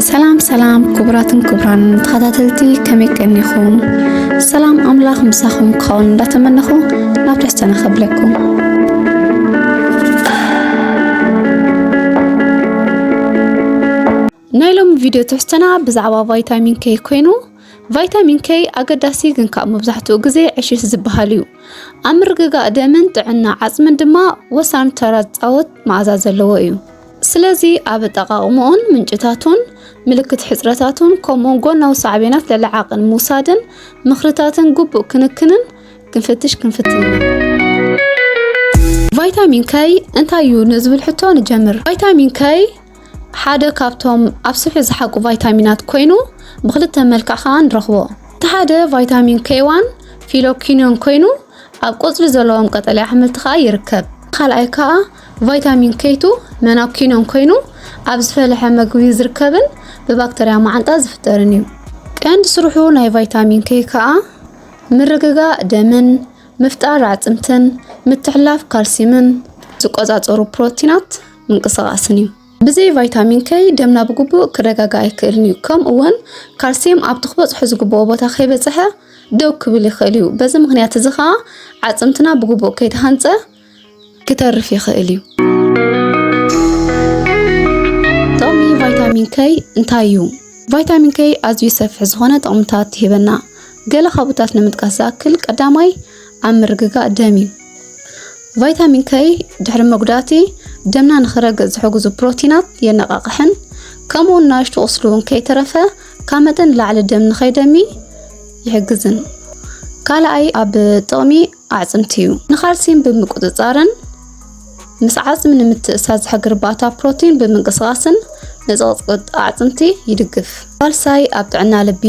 ሰላም ሰላም ክቡራትን ክቡራን ተኸታተልቲ ከመይ ቀኒኹም? ሰላም ኣምላኽ ምሳኹም ክኸውን እንዳተመነኹ ናብ ትሕዝቶና ከብለኩም። ናይ ሎሚ ቪድዮ ትሕዝቶና ብዛዕባ ቫይታሚን ኬይ ኮይኑ ቫይታሚን ኬይ ኣገዳሲ ግን ካብ መብዛሕትኡ ግዜ ዕሽሽ ዝበሃል እዩ። ኣብ ምርግጋእ ደምን ጥዕና ዓጽምን ድማ ወሳኒ ተራ ዝጻወት መኣዛ ዘለዎ እዩ። ስለዚ ኣብ ኣጠቃቕምኡን ምንጭታቱን ምልክት ሕጽረታቱን ከምኡውን ጎናዊ ሳዕቤናት ልዕሊ ዓቕን ምውሳድን ምኽርታትን ግቡእ ክንክንን ክንፍትሽ ክንፍትን ኢና። ቫይታሚን ከይ እንታይ እዩ ንዝብል ሕቶ ንጀምር። ቫይታሚን ከይ ሓደ ካብቶም ኣብ ስብሒ ዝሓቁ ቫይታሚናት ኮይኑ ብክልተ መልክዕ ከዓ ንረኽቦ። እቲ ሓደ ቫይታሚን ኬዋን ፊሎኪኖን ኮይኑ ኣብ ቆፅሊ ዘለዎም ቀጠልያ ኣሕምልቲ ከዓ ይርከብ። ካልኣይ ከዓ ቫይታሚን ኬቱ መናኪኖን ኮይኑ ኣብ ዝፈለሐ መግቢ ዝርከብን ብባክተርያ መዓንጣ ዝፍጠርን እዩ። ቀንዲ ስርሑ ናይ ቫይታሚን ኬ ከዓ ምርግጋእ ደምን ምፍጣር ኣዕፅምትን ምትሕላፍ ካልሲምን ዝቆፃፀሩ ፕሮቲናት ምንቅስቓስን እዩ። ብዘይ ቫይታሚን ከይ ደምና ብግቡእ ክረጋጋእ ኣይክእልን እዩ። ከምኡ እውን ካልሲየም ኣብቲ ክበፅሖ ዝግብኦ ቦታ ከይበፅሐ ደው ክብል ይኽእል እዩ። በዚ ምክንያት እዚ ከዓ ዓፅምትና ብግቡእ ከይተሃንፀ ክተርፍ ይኽእል እዩ። ጥቕሚ ቫይታሚን ከይ እንታይ እዩ? ቫይታሚን ከይ ኣዝዩ ሰፊሕ ዝኾነ ጥቕምታት ይህበና። ገለ ካብኡታት ንምጥቃስ ዝኣክል ቀዳማይ ኣብ ምርግጋእ ደም እዩ። ቫይታሚን ከይ ድሕሪ መጉዳእቲ ደምና ንክረግእ ዝሕግዙ ፕሮቲናት የነቓቕሕን ከምኡውን ናሽቱ ቁስሊ እውን ከይተረፈ ካብ መጠን ንላዕሊ ደም ንከይደሚ ይሕግዝን። ካልኣይ ኣብ ጥቕሚ ኣዕፅምቲ እዩ። ንካልሲየም ብምቁፅፃርን ምስ ዓፅሚ ንምትእሳር ዝሕግር ባታ ፕሮቲን ብምንቅስቓስን ንፅቕፅቅጥ ኣዕፅምቲ ይድግፍ። ሳልሳይ ኣብ ጥዕና ልቢ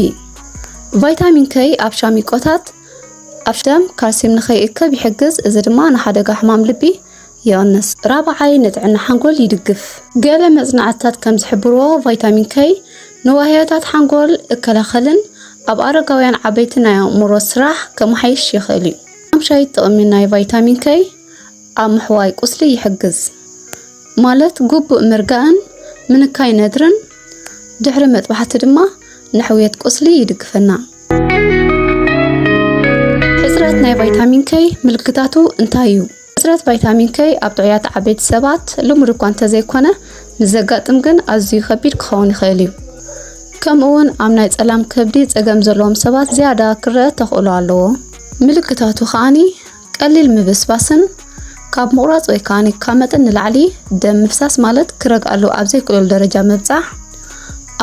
ቫይታሚን ከይ ኣብ ሻሚቆታት ኣፍደም ካልሲየም ንኸይእከብ ይሕግዝ፣ እዚ ድማ ንሓደጋ ሕማም ልቢ ይቕንስ። ራብዓይ፣ ንጥዕና ሓንጎል ይድግፍ። ገለ መጽናዕትታት ከም ዝሕብርዎ፣ ቫይታሚን ከይ ንዋህዮታት ሓንጎል እከላኸልን ኣብ ኣረጋውያን ዓበይቲ ናይ ኣእምሮ ስራሕ ከመሓይሽ ይኽእል እዩ። ሓምሻይ፣ ጥቕሚ ናይ ቫይታሚን ከይ ኣብ ምሕዋይ ቁስሊ ይሕግዝ፣ ማለት ግቡእ ምርጋእን ምንካይ ነድርን። ድሕሪ መጥባሕቲ ድማ ንሕውየት ቁስሊ ይድግፈና። ሕጽረት ናይ ቫይታሚን ከይ ምልክታቱ እንታይ እዩ? ሕጽረት ቫይታሚን ከይ ኣብ ጥዑያት ዓበይቲ ሰባት ልሙድ እኳ እንተዘይኮነ ምስ ዘጋጥም ግን ኣዝዩ ከቢድ ክኸውን ይኽእል እዩ። ከምኡ'ውን ኣብ ናይ ጸላም ከብዲ ጸገም ዘለዎም ሰባት ዝያዳ ክረኣ ተኽእሎ ኣለዎ። ምልክታቱ ከኣ ቀሊል ምብስባስን ካብ ምቑራጽ ወይ ከኣ ካብ መጠን ንላዕሊ ደም ምፍሳስ ማለት ክረግኣሉ ኣብ ዘይክእለሉ ደረጃ ምብጻሕ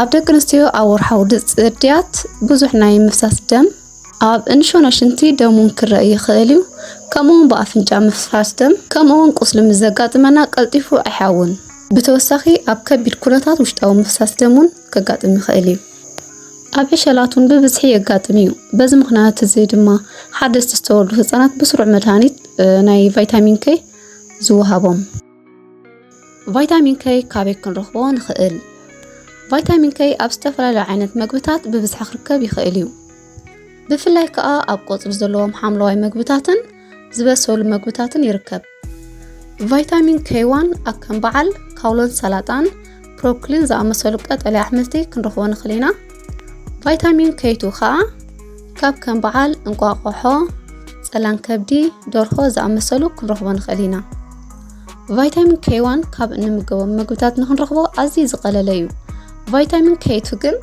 ኣብ ደቂ ኣንስትዮ ኣብ ወርሓዊ ጽድያት ብዙሕ ናይ ምፍሳስ ደም ኣብ እንሾኖ ሽንቲ ደም እውን ክረአ ይኽእል እዩ። ከምኡውን ብኣፍንጫ ምፍሳስ ደም ከምኡውን ቁስሊ ምስ ዘጋጥመና ቀልጢፉ ኣይሓውን። ብተወሳኺ ኣብ ከቢድ ኩነታት ውሽጣዊ ምፍሳስ ደም እውን ከጋጥም ይኽእል እዩ። ኣብ ዕሸላቱን ብብዝሒ የጋጥም እዩ። በዚ ምክንያት እዚ ድማ ሓደስቲ ዝተወልዱ ህፃናት ብስሩዕ መድሃኒት ናይ ቫይታሚን ከይ ዝወሃቦም። ቫይታሚን ከይ ካበይ ክንረኽቦ ንኽእል? ቫይታሚን ከይ ኣብ ዝተፈላለዩ ዓይነት መግብታት ብብዝሒ ክርከብ ይኽእል እዩ። ብፍላይ ከዓ ኣብ ቆፅሊ ዘለዎም ሓምለዋይ መግብታትን ዝበሰሉ መግብታትን ይርከብ። ቫይታሚን ኬዋን ኣብ ከም በዓል ካውሎን ሰላጣን ፕሮክሊን ዝኣመሰሉ ቀጠልያ ኣሕምልቲ ክንረኽቦ ንኽእል ኢና ቫይታሚን ከይቱ ከዓ ካብ ከም በዓል እንቋቆሖ ፀላን ከብዲ ደርሆ ዝኣመሰሉ ክንረኽቦ ንኽእል ኢና ቫይታሚን ኬዋን ካብ እንምገቦም ምግብታት ንክንረኽቦ ኣዝዩ ዝቐለለ እዩ ቫይታሚን ኬቱ ግን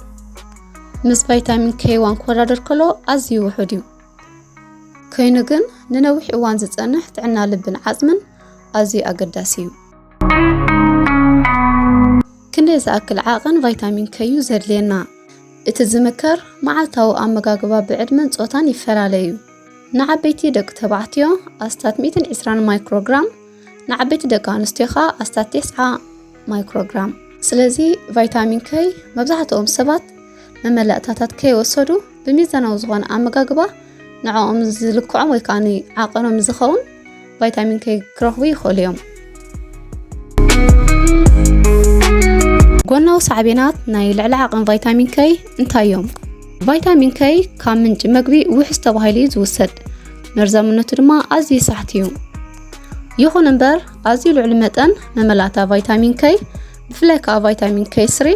ምስ ቫይታሚን ኬዋን ክወዳደር ከሎ ኣዝዩ ውሑድ እዩ ከይኑ ግን ንነዊሕ እዋን ዝጸንሕ ጥዕና ልብን ዓጽምን ኣዝዩ ኣገዳሲ እዩ። ክንደይ ዝኣክል ዓቕን ቫይታሚን ከዩ ዘድልየና? እቲ ዝምከር መዓልታዊ ኣመጋግባ ብዕድመን ጾታን ይፈላለዩ። ንዓበይቲ ደቂ ተባዕትዮ ኣስታት 120 ማይክሮግራም፣ ንዓበይቲ ደቂ ኣንስትዮ ኸኣ ኣስታት ቴስዓ ማይክሮግራም። ስለዚ ቫይታሚን ከይ መብዛሕትኦም ሰባት መመላእታታት ከይወሰዱ ብሚዛናዊ ዝኾነ ኣመጋግባ ንዕኦም ዝልክዖም ወይ ከዓ ዓቐኖም ዝኸውን ቫይታሚን ከይ ክረኽቡ ይኽእሉ እዮም። ጎናዊ ሳዕቤናት ናይ ልዕሊ ዓቐን ቫይታሚን ከይ እንታይ እዮም? ቫይታሚን ከይ ካብ ምንጪ መግቢ ውሕስ ተባሂሉ እዩ ዝውሰድ፣ መርዛምነቱ ድማ ኣዝዩ ሳሕቲ እዩ። ይኹን እምበር ኣዝዩ ልዑል መጠን መመላእታ ቫይታሚን ከይ ብፍላይ ከዓ ቫይታሚን ከይ ስሪ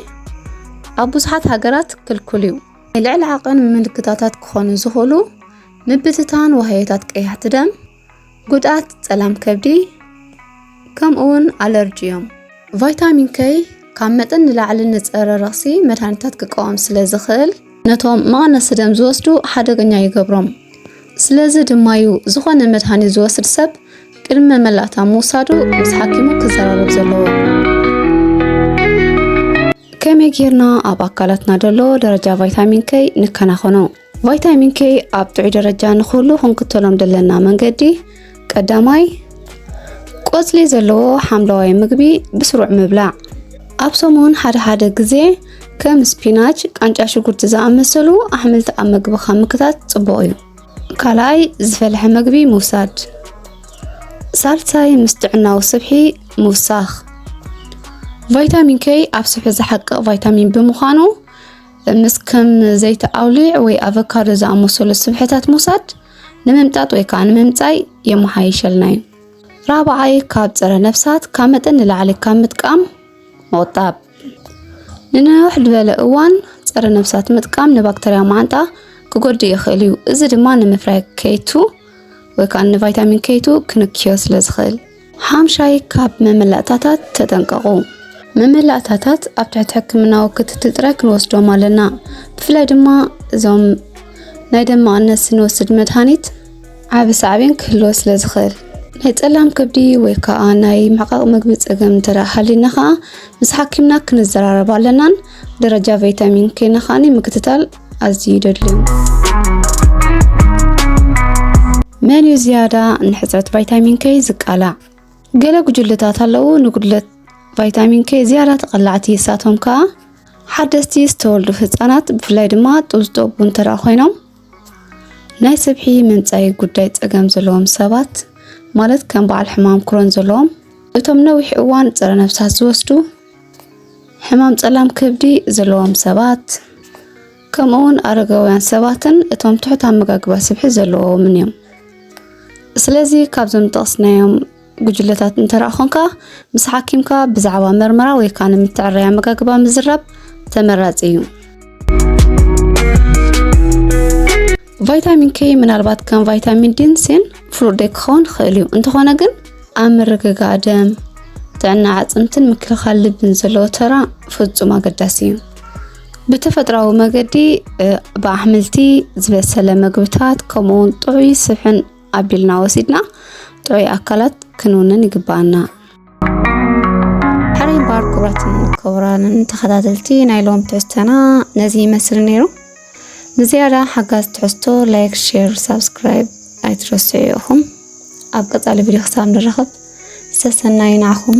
ኣብ ብዙሓት ሃገራት ክልኩል እዩ። ናይ ልዕሊ ዓቐን ምልክታታት ክኾኑ ዝኽእሉ ምብትታን ዋህዮታት ቀያሕቲ ደም፣ ጉድኣት ጸላም ከብዲ፣ ከምኡውን ኣለርጂ እዮም። ቫይታሚን ከይ ካብ መጠን ንላዕሊ ንጸረ ረኽሲ መድሃኒታት ክቃወም ስለ ዝኽእል ነቶም መቐነሲ ደም ዝወስዱ ሓደገኛ ይገብሮም። ስለዚ ድማ'ዩ ዝኾነ መድሃኒት ዝወስድ ሰብ ቅድሚ መመላእታ ምውሳዱ ምስ ሓኪሙ ክዘራረብ ዘለዎ። ከመይ ጌርና ኣብ ኣካላትና ዘሎ ደረጃ ቫይታሚን ከይ ንከናኸኖ። ቫይታሚን ከይ ኣብ ጥዑይ ደረጃ ንክህሉ ክንክተሎም ዘለና መንገዲ ቀዳማይ፣ ቆጽሊ ዘለዎ ሓምለዋይ ምግቢ ብስሩዕ ምብላዕ። ኣብ ሰሙን ሓደ ሓደ ግዜ ከም ስፒናች፣ ቃንጫ ሽጉርቲ ዝኣመሰሉ ኣሕምልቲ ኣብ መግብኻ ምክታት ጽቡቕ እዩ። ካልኣይ፣ ዝፈልሐ ምግቢ ምውሳድ። ሳልሳይ፣ ምስ ጥዕናዊ ስብሒ ምውሳኽ። ቫይታሚን ኬይ ኣብ ስብሒ ዝሓቅቕ ቫይታሚን ብምዃኑ ምስ ከም ዘይቲ ኣውሊዕ ወይ ኣቮካዶ ዝኣመሰሉ ስብሕታት ምውሳድ ንምምጣጥ ወይ ከዓ ንምምፃይ የመሓይሸልና እዩ። ራብዓይ ካብ ፀረ ነፍሳት ካብ መጠን ንላዕሊ ካብ ምጥቃም ምቑጣብ። ንነውሕ ዝበለ እዋን ፀረ ነፍሳት ምጥቃም ንባክተርያ ማዓንጣ ክጎድእ ይኽእል እዩ። እዚ ድማ ንምፍራይ ከይቱ ወይ ከዓ ንቫይታሚን ከይቱ ክንክዮ ስለ ዝኽእል ሓምሻይ ካብ መመላእታታት ተጠንቀቑ። መመላእታታት ኣብ ትሕቲ ሕክምናዊ ክትትል ጥራይ ክንወስዶም ኣለና። ብፍላይ ድማ እዞም ናይ ደም መቐነሲ ንወስድ መድሃኒት ዓቢ ሳዕቤን ክህልዎ ስለ ዝኽእል ናይ ጸላም ከብዲ ወይ ከዓ ናይ ምሕቃቕ ምግቢ ጸገም እንተ ሃሊና ከዓ ምስ ሓኪምና ክንዘራረብ ኣለናን ደረጃ ቫይታሚን ኬና ከዓኒ ምክትታል ኣዝዩ ይደልዩ። መን እዩ ዝያዳ ንሕፅረት ቫይታሚን ከይ ዝቃላዕ? ገለ ጉጅለታት ኣለዉ ንጉድለት ቫይታሚን ከይ ዝያዳ ተቐላዕቲ እሳቶም ከዓ ሓደስቲ ዝተወልዱ ህፃናት ብፍላይ ድማ ጡብ ዝጠቡ እንተደ ኮይኖም ናይ ስብሒ መንፃይ ጉዳይ ፀገም ዘለዎም ሰባት ማለት ከም በዓል ሕማም ክሮን ዘለዎም እቶም ነዊሕ እዋን ፀረ ነፍሳት ዝወስዱ ሕማም ጸላም ከብዲ ዘለዎም ሰባት ከምኡውን ኣረጋውያን ሰባትን እቶም ትሑት ኣመጋግባ ስብሒ ዘለዎምን እዮም ስለዚ ካብዞም ዝጠቕስናዮም ጉጅለታት እንተረኣ ኾንካ ምስ ሓኪምካ ብዛዕባ መርመራ ወይ ከዓ ንምትዕረይ ኣመጋግባ ምዝራብ ተመራፂ እዩ ቫይታሚን ኬ ምናልባት ከም ቫይታሚን ዲን ሴን ፍሉጥ ደይ ክኸውን ይኽእል እዩ እንተኾነ ግን ኣብ ምርግጋእ ደም፣ ጥዕና ኣዕፅምትን ምክልኻል ልብን ዘለዎ ተራ ፍፁም ኣገዳሲ እዩ። ብተፈጥራዊ መገዲ ብኣሕምልቲ ዝበሰለ ምግብታት ከምኡውን ጥዑይ ስብሕን ኣቢልና ወሲድና ጥዑይ ኣካላት ክንውንን ይግባኣና። ሕረይ ባር ክብራትን ክብራንን ተኸታተልቲ ናይ ሎም ትሕዝተና ነዚ ይመስል ነይሩ። ንዝያዳ ሓጋዝ ትሕዝቶ ላይክ ሼር ሳብስክራይብ ኣይትረስዑ ኢኹም ኣብ ቀፃሊ ቪድዮ ክሳብ ንራኸብ ሰሰናዩ ንዓኹም